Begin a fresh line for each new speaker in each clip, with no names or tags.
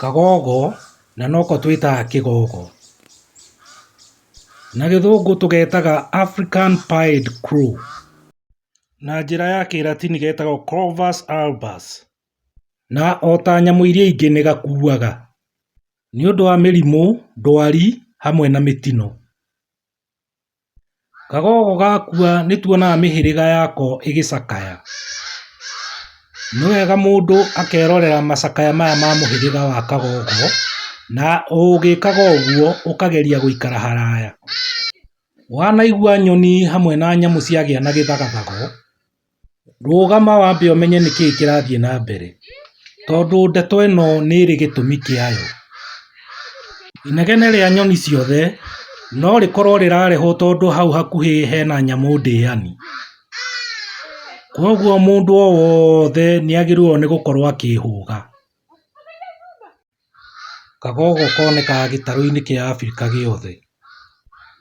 Kagogo, na noko twĩtaga kĩgogo. Na gĩthũngũ tũgetaga African Pied Crow. Na njĩra ya kĩratini getagwo Corvus Albus. Na ota nyamũ iria ingĩ nĩ gakuaga. Nĩ ũndũ wa mĩrimũ, ndwari, hamwe na mĩtino. Kagogo gakua nĩtuonaga mĩhĩrĩga yako ĩgĩcakaya, nĩwega mũndũ akerorera macakaya maya ma mũhĩrĩga wa kagogo na ũgĩkaga ũguo ũkageria gũikara haraya, wanaigua nyoni hamwe na nyamũ ciagĩa na gĩthagathago Rũgama wambe ũmenye nĩkĩĩ kĩrathiĩ na mbere, tondũ ndeto ĩno nĩ ĩrĩ gĩtũmi kĩayo. Inegene rĩa nyoni ciothe no rĩkorwo rĩrarehwo tondũ hau hakuhĩ hena nyamũ ndĩani. Kwoguo mũndũ o wothe nĩagĩrĩirwo nĩ gũkorwo akĩhũga. Kagogo konekaga gĩtarũ-inĩ kĩa Afrika gĩothe.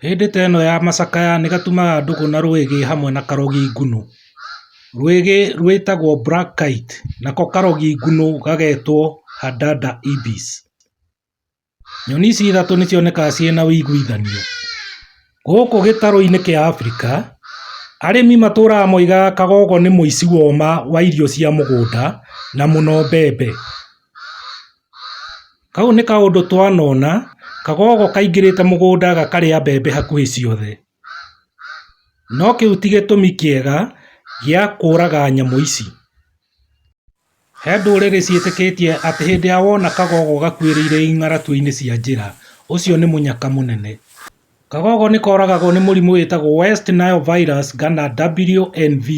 Hĩndĩ ta ĩno ya macakaya nĩ gatumaga ndũgũ na rwĩgĩ hamwe na karogi ngũnũ. Rwĩgĩ rwĩtagwo black kite nako karogi ngũnũ gagetwo hadada ibis. Nyoni ici ithatũ nĩ cionekaga ciĩ na ũiguithanio. Gũkũ gĩtarũ-inĩ kĩa Afrika, arĩmi matũraga moigaga kagogo nĩ mũici wa ũma wa irio cia mũgũnda na mũno mbembe. Kau nĩ kaũndũ twanona, kagogo kaingĩrĩte mũgũnda gakarĩa mbembe hakuhĩ ciothe. No kĩu ti gĩtũmi kĩega gĩa kũraga nyamũ ici. He ndũrĩrĩ ciĩtĩkĩtie atĩ hĩndĩ ĩrĩa wona kagogo gakuĩrĩire ing'aratũinĩ cia njĩra, ũcio nĩ mũnyaka mũnene. Kagogo nĩ koragagwo nĩ mũrimũ wĩtagwo West Nile Virus kana WNV.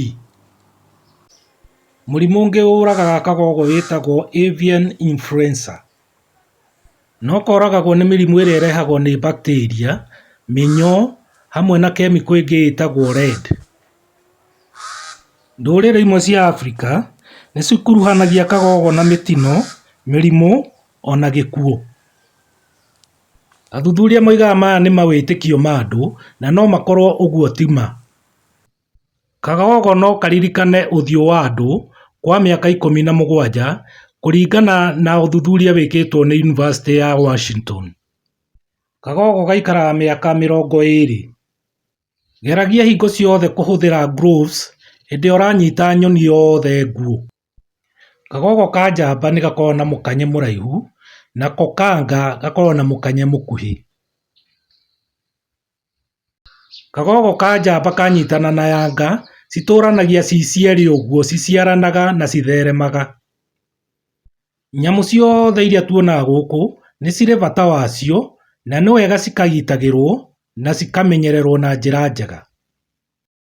Mũrimũ ũngĩ ũragaga kagogo wĩtagwo avian influenza no koragagwo nĩ mĩrimũ ĩrĩa ĩrehagwo nĩ bacteria, mĩnyoo hamwe na kemiko ĩngĩ ĩtagwo lead. Ndũrĩrĩ imwe cia Africa nĩ cikuruhanagia kagogo na mĩtino, mĩrimũ ona gĩkuũ. Athuthuria moigaga maya nĩ mawĩtĩkio ma andũ na no makorwo ũguo ti ma. Kagogo no karirikane ũthiũ wa andũ kwa mĩaka ikũmi na mũgwanja kũringana na ũthuthuria wĩkĩtwo nĩ yunivasĩtĩ ya Washington. Kagogo gaikaraga mĩaka mĩrongo ĩrĩ. Geragia hingo ciothe kũhũthĩra gloves hĩndĩ ĩrĩa ũranyita nyoni yothe nguũ. Kagogo ka njamba nĩ gakoragwo na mũkanye mũraihu, nako ka nga gakoragwo na mũkanye mũkuhĩ. Kagogo ka njamba kanyitana na yanga citũranagia ci cierĩ ũguo ciciaranaga na citheremaga. Nyamũ ciothe iria tuonaga gũkũ nĩ cirĩ bata wacio na nĩ wega cikagitagĩrwo na cikamenyererwo na njĩra njega.